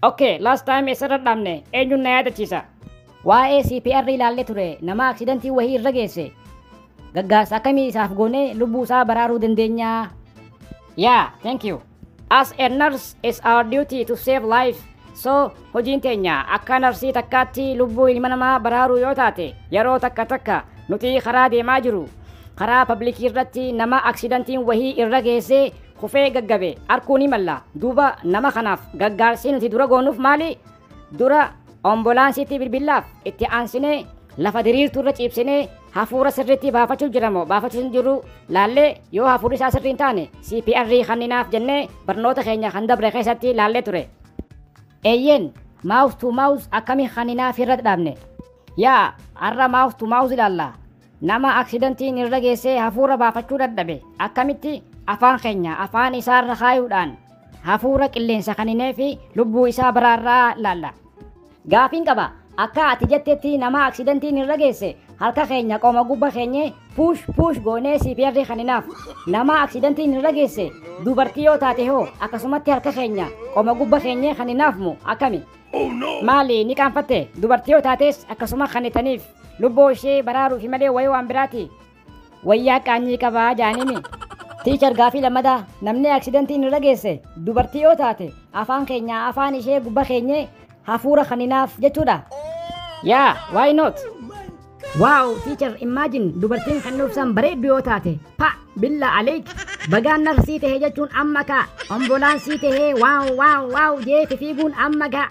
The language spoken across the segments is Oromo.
Okay, last time eessarra dhaabne eenyuun na yaadachiisa? Waa'ee CPR ilaallee ture nama aksidantii wahii irra geesse. Gaggaarsa akkamii isaaf goonee lubbuu isaa baraaruu dandeenyaa? Yeah, thank you. As a nurse, it's our duty to save life. So, hojiin teenya akka narsii takkaatti lubbuu ilma namaa baraaruu yoo taate yeroo takka takka nuti karaa deemaa jiru karaa pabliikii irratti nama aksidantiin wahii irra geessee kufee gaggabe arkuu ni malla. Duuba nama kanaaf gaggaarsi nuti dura goonuuf maali? Dura ombolaansiitti bilbillaaf itti aansinee lafa diriirtuu irra ciibsinee hafuura sirriitti baafachuu jira moo baafachuu hin jiru laallee yoo hafuurri isaa sirrii hin taane CPR kanninaaf jennee barnoota keenya kan dabre keessatti laallee ture. Eeyyeen mouth to mouth akkamiin kanninaa fi irra dhaabne? Yaa har'a mouth to mouth ilaalla. Nama aksidantiin irra geessee hafuura baafachuu dadhabe akkamitti afaan keenya afaan isaarra kaayuudhaan hafuura qilleensa kanineefi lubbuu isaa baraarraa laalla? Gaafiin qaba. Akka ati jettetti nama aksidantiin irra geesse harka keenya qoma gubba keenyee puush puush goonee CPR kaninaaf. Nama aksidantiin irra geesse dubartii yoo taate hoo akkasumatti harka keenya qoma gubba keenyee kaninaaf moo akkami? Maali ni qaanfatte? Dubartii yoo taates akkasuma kannitaniif. Lubboo ishee baraaruufi malee wayii waan biraati. Wayyaa qaanyii qaba jaaniimi. Teacher gaafii lammadaa namni accidentiin irra geesse dubartii yoo taate afaan keenyaa afaan ishee gubba keenyee hafuura kanninaaf jechuudha? Yeah, why not? Wow feature imagine dubartiin kan nuubsaan bareeddu yoo taate pa billa aleek bagaan nar sii tahee jechuun amma kaa ombolaan sii tahee waaw waaw waaw jeeti fiiguun amma gaa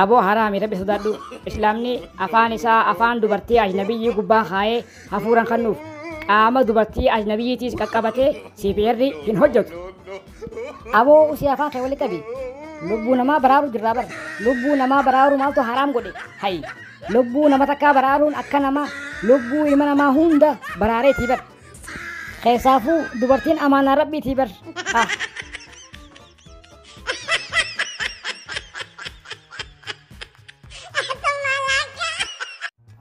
aboo haraami rabbi sodaadhu islaamni afaan isaa afaan dubartii ajnabiyyii gubbaa kaayee hafuuran kannuuf qaama dubartii ajnabiyyiitiis qaqqabatee siif eerri hin hojjetu Aboo usii afaan kee wali qabi. Lubbuu namaa baraaru jirraa bar. Lubbuu namaa baraaru maaltu haraam godhe. Hayi. Lubbuu nama takkaa baraaruun akka namaa lubbuu ilma namaa hunda baraareetii bar. Keessaafuu dubartiin amaanaa rabbiitii bar. Ah.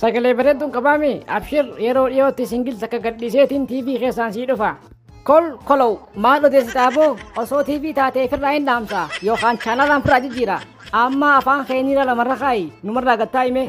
Sagalee bareedduun qabaame abshir yeroo dhiyootti singil takka gadhiiseetiin TV keessaan sii dhufa. Kol kolow maal odeessitaa boo osoo TV taatee firraa hin dhaamsa yookaan chaanalaan firaa jijjiira. Amma afaan keeniira lamarra kaa'i numarraa gattaa himee.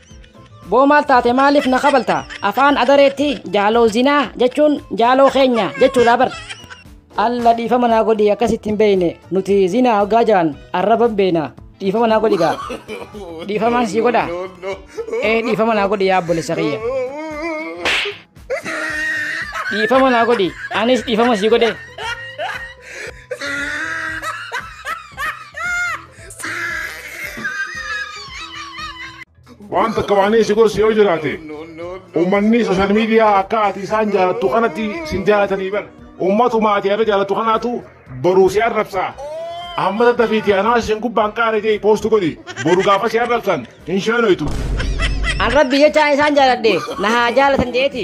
Boo maal taate maaliif na kabalta? Afaan adareetti jaaloo zinaa jechuun jaaloo keenya jechuudha bar. Alla dhiifama naa godhi akkasitti hin beeyne nuti zinaa hoggaa jaan arraban beeyna dhiifama naa godhi gaa. Dhiifamaan sii godha. Ee dhiifama naa godhi yaa obboleessa kiyya. Dhiifama naa godhi anis dhiifama sii godhe. Waan takka waan inni si gorsu yoo jiraate uummanni sooshaal miidiyaa akka ati isaan jaalattu kanatti sin jaalatanii bar. Uummatuma ati irra jaalattu kanaatu boruu si arrabsaa. Amma daddafiiti anaa isin gubbaan qaara jee poostu godhi. Boru gaafa si arrabsan hin sheenoytu. An rabbi jechaan isaan jaaladhe na haa jaalatan jeeti.